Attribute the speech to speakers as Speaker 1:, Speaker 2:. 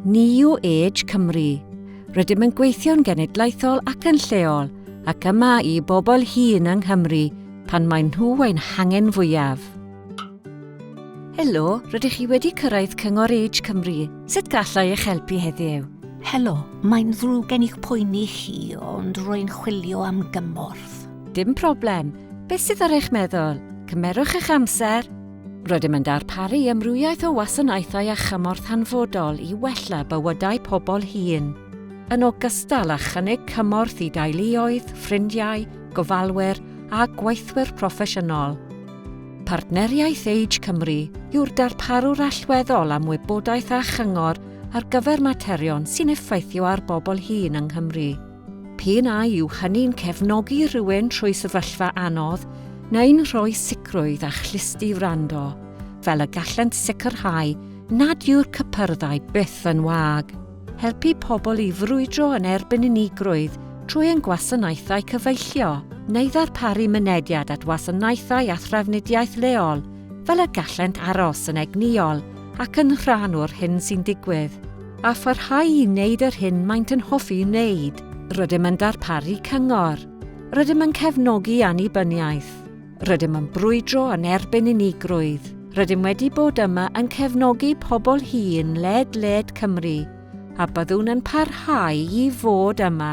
Speaker 1: New Age Cymru. Rydym yn gweithio'n genedlaethol ac yn lleol, ac yma i bobl hŷn yng Nghymru pan maen nhw ein hangen fwyaf. Helo, rydych chi wedi cyrraedd Cyngor Age Cymru. Sut gallai eich helpu heddiw? Helo,
Speaker 2: mae'n ddrwg gen i'ch poeni chi, ond rwy'n chwilio am gymorth. Dim problem.
Speaker 1: Beth sydd ar eich meddwl? Cymerwch eich amser. Rydym yn darparu amrywiaeth o wasanaethau a chymorth hanfodol i wella bywydau pobl hŷn, yn ogystal â chynnig cymorth i deuluoedd, ffrindiau, gofalwyr a gweithwyr proffesiynol. Partneriaeth Age Cymru yw'r darparwr allweddol am wybodaeth a chyngor ar gyfer materion sy'n effeithio ar bobl hŷn yng Nghymru. P'un a yw hynny'n cefnogi rhywun trwy sefyllfa anodd neu'n rhoi sicrwydd a chlusti wrando, fel y gallent sicrhau nad yw'r cypyrddau byth yn wag. Helpu pobl i frwydro yn erbyn unigrwydd trwy ein gwasanaethau cyfeillio, neu ddarparu mynediad at wasanaethau a thrafnidiaeth leol fel y gallent aros yn egnïol ac yn rhan o'r hyn sy'n digwydd. A pharhau i wneud yr hyn maent yn hoffi wneud. Rydym yn darparu cyngor. Rydym yn cefnogi annibyniaeth. Rydym yn brwydro yn erbyn unigrwydd. Rydym wedi bod yma yn cefnogi pobl hŷn led-led Cymru, a byddwn yn parhau i fod yma.